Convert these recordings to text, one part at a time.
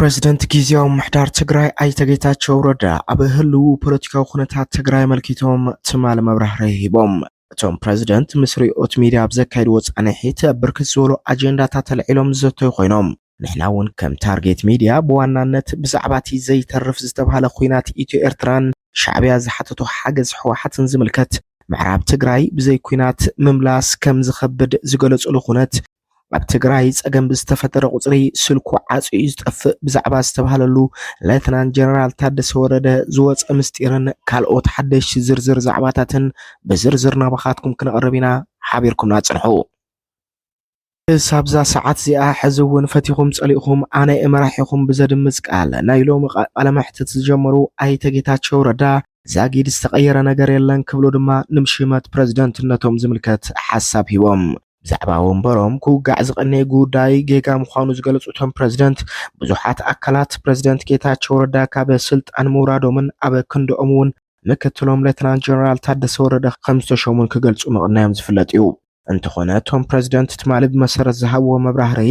ፕረዚደንት ጊዜያዊ ምሕዳር ትግራይ ኣይተ ጌታቸው ረዳ ኣብ ህልው ፖለቲካዊ ኩነታት ትግራይ ኣመልኪቶም ትማሊ መብራህሪ ሂቦም። እቶም ፕረዚደንት ምስ ሪኦት ሚድያ ኣብ ዘካየድዎ ፃንሒት ብርክት ዝበሉ ኣጀንዳታት ኣልዒሎም ዝዘተዩ ኮይኖም ንሕና እውን ከም ታርጌት ሚድያ ብዋናነት ብዛዕባ እቲ ዘይተርፍ ዝተብሃለ ኹናት ኢትዮ ኤርትራን ሻዕቢያ ዝሓተቶ ሓገዝ ሕወሓትን ዝምልከት ምዕራብ ትግራይ ብዘይ ኩናት ምምላስ ከም ዝኸብድ ዝገለፅሉ ኩነት ኣብ ትግራይ ጸገም ብዝተፈጠረ ቁጽሪ ስልኩ ዓጽዩ ዝጠፍእ ብዛዕባ ዝተባሃለሉ ሌተናንት ጀነራል ታደሰ ወረደ ዝወፀ ምስጢርን ካልኦት ሓደሽቲ ዝርዝር ዛዕባታትን ብዝርዝር ናባኻትኩም ክነቕርብ ኢና ሓቢርኩምና ጽንሑ ሳብዛ ሰዓት እዚኣ ሕዚ እውን ፈቲኹም ጸሊእኹም ኣነ እመራሒኹም ብዘድምፅ ቃል ናይ ሎሚ ቃለ መሕትት ዝጀመሩ ኣይተ ጌታቸው ረዳ ዛጊድ ዝተቐየረ ነገር የለን ክብሉ ድማ ንምሽመት ፕረዚደንትነቶም ዝምልከት ሓሳብ ሂቦም ብዛዕባ ወንበሮም ክውጋዕ ዝቐነየ ጉዳይ ጌጋ ምዃኑ ዝገለፁ እቶም ፕረዚደንት፣ ብዙሓት ኣካላት ፕረዚደንት ጌታቸው ረዳ ካብ ስልጣን ምውራዶምን ኣብ ክንድኦም እውን ምክትሎም ሌተናል ጀነራል ታደሰ ወረደ ከምዝተሾሙን ክገልፁ ምቕናዮም ዝፍለጥ እዩ። እንተኾነ እቶም ፕረዚደንት ትማሊ ብመሰረት ዝሃብዎ መብራህርሂ፣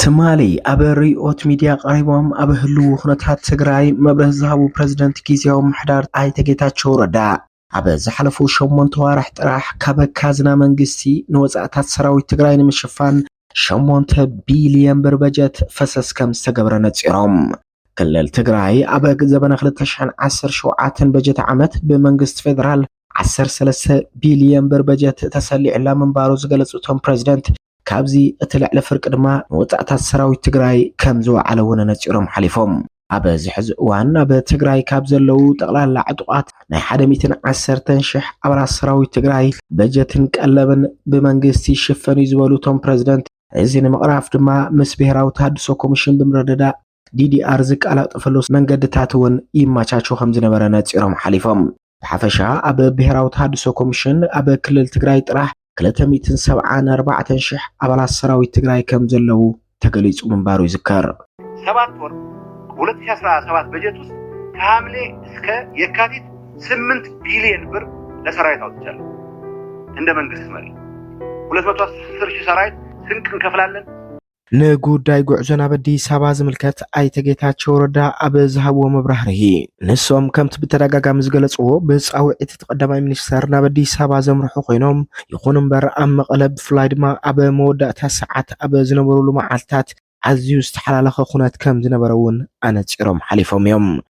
ትማሊ ኣብ ርዕዮት ሚድያ ቀሪቦም ኣብ ህልው ኩነታት ትግራይ መብርህ ዝሃቡ ፕረዚደንት ጊዜያዊ ምሕዳር ኣይተ ጌታቸው ረዳ ኣብ ዝሓለፉ ሸሞንተ ዋራሕ ጥራሕ ካብ ካዝና መንግስቲ ንወፃእታት ሰራዊት ትግራይ ንምሽፋን ሸሞንተ ቢልየን ብር በጀት ፈሰስ ከም ዝተገብረ ነፂሮም። ክልል ትግራይ ኣብ ዘበነ 2017 በጀት ዓመት ብመንግስቲ ፌዴራል 13 ቢልየን ብር በጀት ተሰሊዑላ ምንባሩ ዝገለፁ እቶም ፕረዚደንት ካብዚ እቲ ልዕሊ ፍርቂ ድማ ንወፃእታት ሰራዊት ትግራይ ከም ዝወዓለ እውን ኣነፂሮም ሓሊፎም። ኣብ እዚ ሕዚ እዋን ኣብ ትግራይ ካብ ዘለዉ ጠቕላላ ዕጡቓት ናይ ሓደ ሚእትን ዓሰርተን ሽሕ ኣባላት ሰራዊት ትግራይ በጀትን ቀለብን ብመንግስቲ ይሽፈን እዩ ዝበሉ እቶም ፕረዚደንት እዚ ንምቕራፍ ድማ ምስ ብሄራዊ ተሃድሶ ኮሚሽን ብምርድዳእ ዲዲኣር ዝቀላጠፈሉ መንገድታት እውን ይመቻቹ ከምዝነበረ ነፂሮም ሓሊፎም። ብሓፈሻ ኣብ ብሔራዊ ተሃድሶ ኮሚሽን ኣብ ክልል ትግራይ ጥራሕ 274 ሽሕ ኣባላት ሰራዊት ትግራይ ከም ዘለዉ ተገሊጹ ምንባሩ ይዝከር። ሰባት ወር 2017 በጀት ውስጥ ከሐምሌ እስከ የካቲት 8 ቢሊዮን ብር ለሰራዊት አውጥቻለሁ። እንደ መንግስት መሪ 210 ሺህ ሰራዊት ስንቅ እንከፍላለን። ንጉዳይ ጉዕዞ ናብ ኣዲስ ኣበባ ዝምልከት ኣይተ ጌታቸው ረዳ ኣብ ዝሃብዎ መብራህርሂ ንሶም ከምቲ ብተደጋጋሚ ዝገለፅዎ ብፃውዒት እቲ ቀዳማይ ሚኒስተር ናብ ኣዲስ ኣበባ ዘምርሑ ኮይኖም ይኹን እምበር ኣብ መቐለ ብፍላይ ድማ ኣብ መወዳእታ ሰዓት ኣብ ዝነበሩሉ መዓልታት ኣዝዩ ዝተሓላለኸ ኩነት ከም ዝነበረ እውን ኣነፂሮም ሓሊፎም እዮም።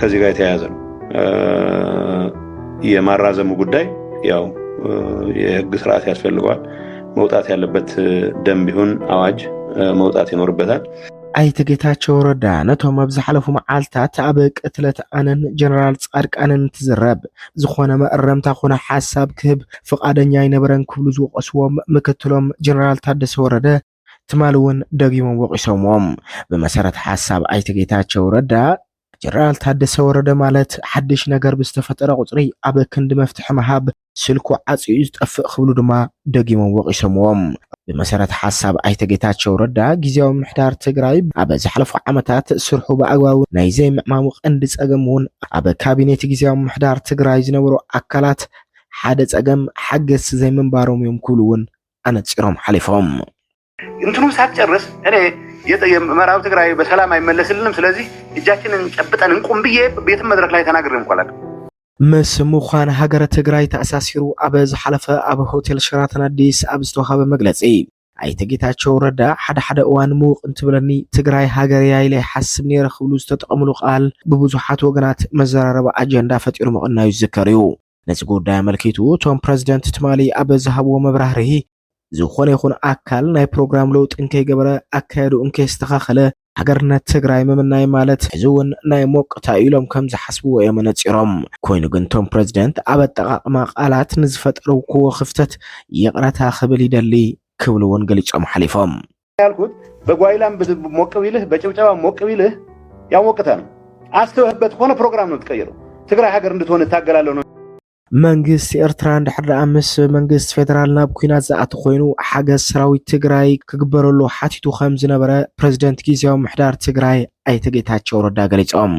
ከዚህ ጋር የተያያዘ ነው። የማራዘሙ ጉዳይ ያው የህግ ስርዓት ያስፈልገዋል። መውጣት ያለበት ደንብ ይሁን አዋጅ መውጣት ይኖርበታል። ኣይተ ጌታቸው ረዳ ነቶም ኣብ ዝሓለፉ መዓልትታት ኣብ ቅትለት ኣነን ጀነራል ፃድቃንን እንትዝረብ ዝኾነ መእረምታ ኮነ ሓሳብ ክህብ ፍቓደኛ ኣይነበረን ክብሉ ዝወቀስዎም ምክትሎም ጀነራል ታደሰ ወረደ ትማሊ እውን ደጊሞም ወቒሶምዎም። ብመሰረት ሓሳብ ኣይተ ጌታቸው ረዳ፣ ጀነራል ታደሰ ወረደ ማለት ሓድሽ ነገር ብዝተፈጠረ ቁፅሪ ኣብ ክንዲ መፍትሒ ምሃብ ስልኩ ዓፅዩ እዩ ዝጠፍእ ክብሉ ድማ ደጊሞም ወቒሶምዎም። ብመሰረት ሓሳብ ኣይተ ጌታቸው ረዳ፣ ጊዜያዊ ምምሕዳር ትግራይ ኣብ ዝሓለፉ ዓመታት ስርሑ ብኣግባቡ ናይ ዘይምዕማሙ ቀንዲ ፀገም እውን ኣብ ካቢኔት ጊዜያዊ ምምሕዳር ትግራይ ዝነበሩ ኣካላት ሓደ ፀገም ሓገዝቲ ዘይምንባሮም እዮም ክብሉ እውን ኣነጺሮም ሓሊፎም። እንትኑ ሳትጨርስ እኔ ምዕራብ ትግራይ በሰላም አይመለስልንም፣ ስለዚህ እጃችንን ጨብጠን እንቁም ብዬ ቤትም መድረክ ላይ ተናግሬ እንኳን ምስ ምዃን ሃገረ ትግራይ ተኣሳሲሩ ኣብ ዝሓለፈ ኣብ ሆቴል ሸራተን ኣዲስ ኣብ ዝተዋሃበ መግለፂ ኣይተ ጌታቸው ረዳ ሓደ ሓደ እዋን ምውቕ እንትብለኒ ትግራይ ሃገር እያ ኢለ ይሓስብ ነይረ ክብሉ ዝተጠቐምሉ ቃል ብብዙሓት ወገናት መዘራረቢ ኣጀንዳ ፈጢሩ ምቕናዩ ዝዝከር እዩ። ነዚ ጉዳይ ኣመልኪቱ እቶም ፕረዚደንት ትማሊ ኣብ ዝሃብዎ መብራህርሂ ዝኾነ ይኹን ኣካል ናይ ፕሮግራም ለውጢ እንከይገበረ ኣካየድኡ እንከየስተኻኸለ ሃገርነት ትግራይ ምምናይ ማለት ሕዚ እውን ናይ ሞቅታ እዩ ኢሎም ከም ዝሓስብዎ እዮም ነፂሮም። ኮይኑ ግን እቶም ፕረዚደንት ኣብ ኣጠቓቕማ ቃላት ንዝፈጠርኩዎ ክፍተት ይቕረታ ክብል ይደሊ ክብሉ እውን ገሊፆም ሓሊፎም። ያልኩት በጓይላም ሞቅ ቢልህ በጭብጨባ ሞቅ ቢልህ ያሞቅተ ነው። አስተውህበት ሆነ ፕሮግራም ነው ትቀይረው ትግራይ ሀገር እንድትሆን እታገላለሁ ነው። መንግስቲ ኤርትራ እንድሕር ደኣ ምስ መንግስቲ ፌደራል ናብ ኩናት ዝኣቲ ኮይኑ ሓገዝ ሰራዊት ትግራይ ክግበረሉ ሓቲቱ ከም ዝነበረ ፕረዚደንት ግዜያዊ ምሕዳር ትግራይ ኣይተ ጌታቸው ረዳ ገሊፆም።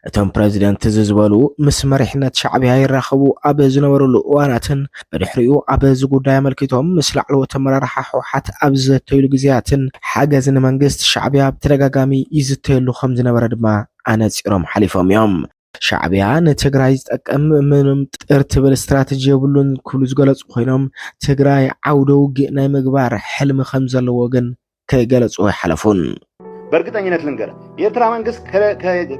እቶም ፕረዚደንት እዚ ዝበሉ ምስ መሪሕነት ሻዕብያ ይራኸቡ ኣብ ዝነበሩሉ እዋናትን ብድሕሪኡ ኣብ እዚ ጉዳይ ኣመልኪቶም ምስ ላዕለዎት ኣመራርሓ ህወሓት ኣብ ዝዘተይሉ ግዜያትን ሓገዝ ንመንግስቲ ሻዕብያ ብተደጋጋሚ ይዝተየሉ ከም ዝነበረ ድማ ኣነፂሮም ሓሊፎም እዮም። ሻዕብያ ንትግራይ ዝጠቅም ምንም ጥር ትብል ስትራተጂ የብሉን ክብሉ ዝገለፁ ኮይኖም ትግራይ ዓውደ ውግእ ናይ ምግባር ሕልሚ ከም ዘለዎ ግን ክገለጹ ኣይሓለፉን። በእርግጠኝነት ልንገር፣ የኤርትራ መንግስት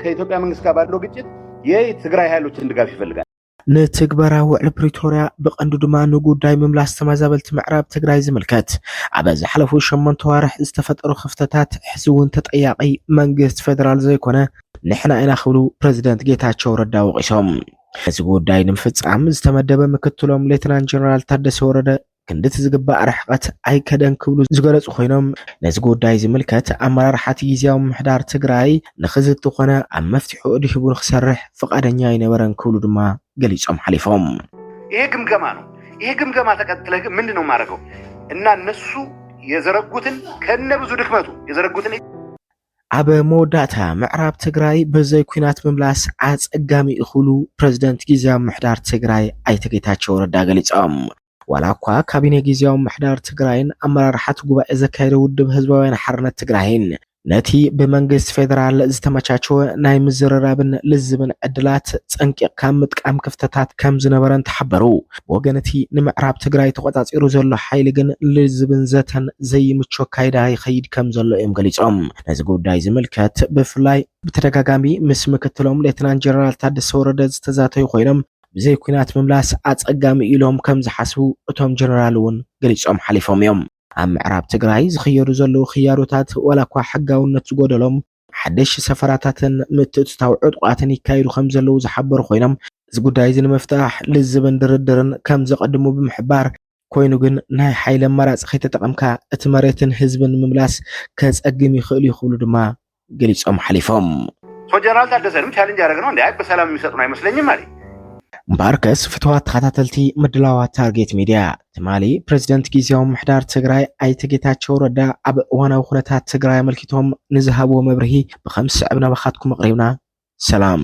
ከኢትዮጵያ መንግስት ጋር ባለው ግጭት የትግራይ ኃይሎችን ድጋፍ ይፈልጋል። ንትግበራ ውዕል ፕሪቶርያ ብቐንዱ ድማ ንጉዳይ ምምላስ ተመዛበልቲ ምዕራብ ትግራይ ዝምልከት ኣብ ዝሓለፉ ሸሞንተ ዋርሕ ዝተፈጠሩ ክፍተታት ሕዚ እውን ተጠያቂ መንግስት ፌደራል ዘይኮነ ንሕና ኢና ክብሉ ፕሬዚደንት ጌታቸው ረዳ ወቂሶም። እዚ ጉዳይ ንምፍፃም ዝተመደበ ምክትሎም ሌትናንት ጀነራል ታደሰ ወረደ ክንድቲ ዝግባእ ርሕቐት ኣይከደን ክብሉ ዝገለጹ ኮይኖም ነዚ ጉዳይ ዝምልከት ኣመራርሓቲ ግዜያዊ ምምሕዳር ትግራይ ንክዝቲ ኮነ ኣብ መፍትሒኡ ድሂቡ ንክሰርሕ ፍቓደኛ ኣይነበረን ክብሉ ድማ ገሊጾም ሓሊፎም። ይሄ ግምገማ ነው። ይሄ ግምገማ ተቀጥለ ግን ምንድን ነው የማደርገው እና እነሱ የዘረጉትን ከነ ብዙ ድክመቱ የዘረጉትን ኣብ መወዳእታ ምዕራብ ትግራይ ብዘይ ኲናት ምምላስ ኣፀጋሚ እዩ ክብሉ ፕረዚደንት ጊዜያዊ ምምሕዳር ትግራይ ኣይተ ጌታቸው ረዳ ገሊፆም። ዋላ እኳ ካቢኔ ጊዜያዊ ምምሕዳር ትግራይን ኣመራርሓቲ ጉባኤ ዘካየደ ውድብ ህዝባውያን ሓርነት ትግራይን ነቲ ብመንግስቲ ፌደራል ዝተመቻቸወ ናይ ምዝርራብን ልዝብን ዕድላት ፀንቂቕካ ምጥቃም ክፍተታት ከምዝነበረን ተሓበሩ። ብወገን እቲ ንምዕራብ ትግራይ ተቖፃፂሩ ዘሎ ሓይሊ ግን ልዝብን ዘተን ዘይምቹ ኣካይዳ ይኸይድ ከም ዘሎ እዮም ገሊፆም። ነዚ ጉዳይ ዝምልከት ብፍላይ ብተደጋጋሚ ምስ ምክትሎም ሌተናንት ጀነራል ታደሰ ወረደ ዝተዛተዩ ኮይኖም ብዘይ ኲናት ምምላስ ኣፀጋሚ እዩ ኢሎም ከም ዝሓስቡ እቶም ጀነራል እውን ገሊፆም ሓሊፎም እዮም። ኣብ ምዕራብ ትግራይ ዝኽየዱ ዘለዉ ክያዶታት ዋላ እኳ ሕጋውነት ዝጎደሎም ሓደሽቲ ሰፈራታትን ምትእትታው ዕጡቓትን ይካየዱ ከም ዘለዉ ዝሓበሩ ኮይኖም እዚ ጉዳይ እዚ ንምፍታሕ ልዝብን ድርድርን ከም ዘቐድሙ ብምሕባር ኮይኑ ግን ናይ ሓይሊ ኣማራፂ ከይተጠቐምካ እቲ መሬትን ህዝብን ንምምላስ ከፀግም ይኽእል እዩ ክብሉ ድማ ገሊፆም ሓሊፎም። ጀነራል ታደሰ ድም ቻሌንጅ ያደረግ ነው እንዲ አይ በሰላም የሚሰጡን አይመስለኝም አለ። እምበኣርከስ ፍትዋት ተኸታተልቲ ምድላዋት ታርጌት ሚድያ ትማሊ ፕሬዚደንት ግዜያዊ ምሕዳር ትግራይ ኣይተ ጌታቸው ረዳ ኣብ እዋናዊ ኩነታት ትግራይ ኣመልኪቶም ንዝሃብዎ መብርሂ ብከም ዝስዕብ ናባኻትኩም ኣቕሪብና። ሰላም።